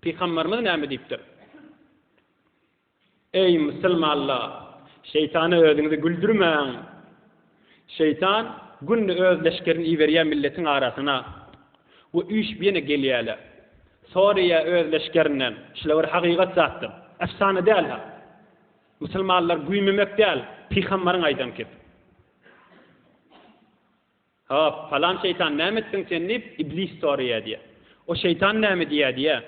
Pygamberimiz näme diýipdir? Eý, musulmanlar! Şeýtana özüňizi güldürmäň! Şeýtan günde öz leşgerini iberýär milletiň arasyna we üýşüp ýene gelýärler. Soraýar öz leşgerinden, şular bir hakykat zatdyr, efsana däl-hä! Musulmanlar güýmemek däl, pygamberiň aýdan kep. Hop, palan şeýtan näme etdiň sen diýip, Iblis soraýar diýýär. O şeýtan näme diýýär diýýär.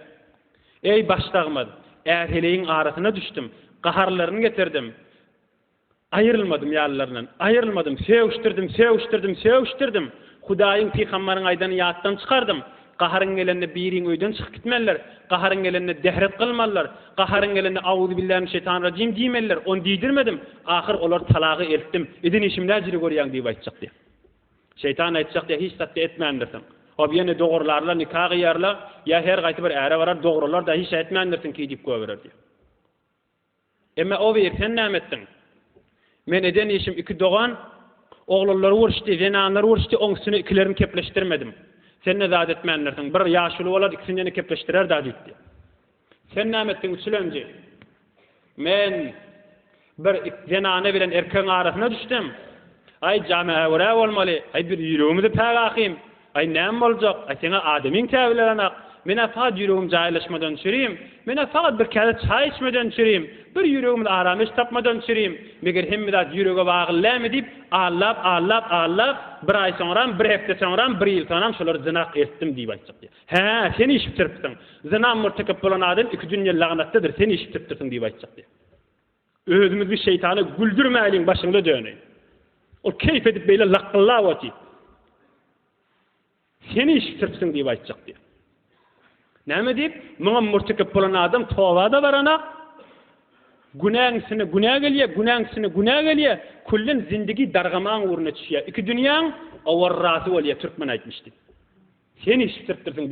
Eý, başdagymyz, är-heleýiň arasyna düşdüm, gaharlaryny getirdim, aýrylmadym ýalylaryndan, aýrylmadym, sögüşdirdim, sögüşdirdim, sögüşdirdim, Hudaýyň, pygambaryň aýdanyny ýatdan çykardym, Gaharyň gelende biriň öýden çykyp gitmelidir. Gaharyň gelende dehret kylmalydyr. Gaharyň gelende Auzubillahiminşeýtanirrajim diýmelidir. Ony diýdirmedim. Ahyr olar talagy eltdim. Edin işimdä jiri görýäň diýip aýtjak diýýär. Şeýtan aýtjak diýýär, hiç zatda etmändirsiň. Hop ýene dogurlarlar, nika gyýarlar. Ýa her gaýsy bir äre barar, dogrular-da, hiç ätmändirsiň ki diýip goýberer diýýär. Emme o bir, sen näme etdiň? Men eden işim iki dogan, oglanlary uruşdy, zenanlary uruşdy, oň üstüne ikilerini kepleşdirmedim. Sen-de zat etmändirsiň. Bir ýaşuly bolar, ikisini-de kepleşdirer-dä, diýipdi. Sen näme etdiň, üçülenji? Men bir zenana bilen erkegiň arasyna düşdüm. Aý, jam-ä örä bolmaly. Aý, bir ýüregimizi pägakym. Aý, näme boljak? Aý, seň-ä adamyň käbilerenak. Men-ä sagat ýüregim jaýlaşmadan çürüýin. Men-ä sagat bir käse çaý içmeden çürüýin. Bir ýüregimiz aram iş tapmadan çürüýin. Meger hemme zat ýürege bagly dälmi? diýip, allap, allap, allap, bir aý soňram, bir hepde soňram, bir ýyl soňram şolary zynak etdim diýip aýtjak diýýär. Hä, sen iş bitiripsiň. Zyna mürtekep bolan adam iki dünýe lagnatdadyr, sen iş bitiripdirsiň diýip aýtjak diýýär. Özümizi şeýtana güldürmäliň başyňda döneý. Ol keýp edip beýle lakgyllap otyr. Sen işitiripsiň diýip aýtjak diýýär. Näme diýip? Muňa murtekep bolan adam toba-da baranak, günäň üstüne günä gelýär, günäň üstüne günä gelýär, küllen zindigi dargamaň ugruna düşýär. Iki dünýäň awarrasy bolýar, türkmen aýtmyş diýip. Sen işitiripdirsiň.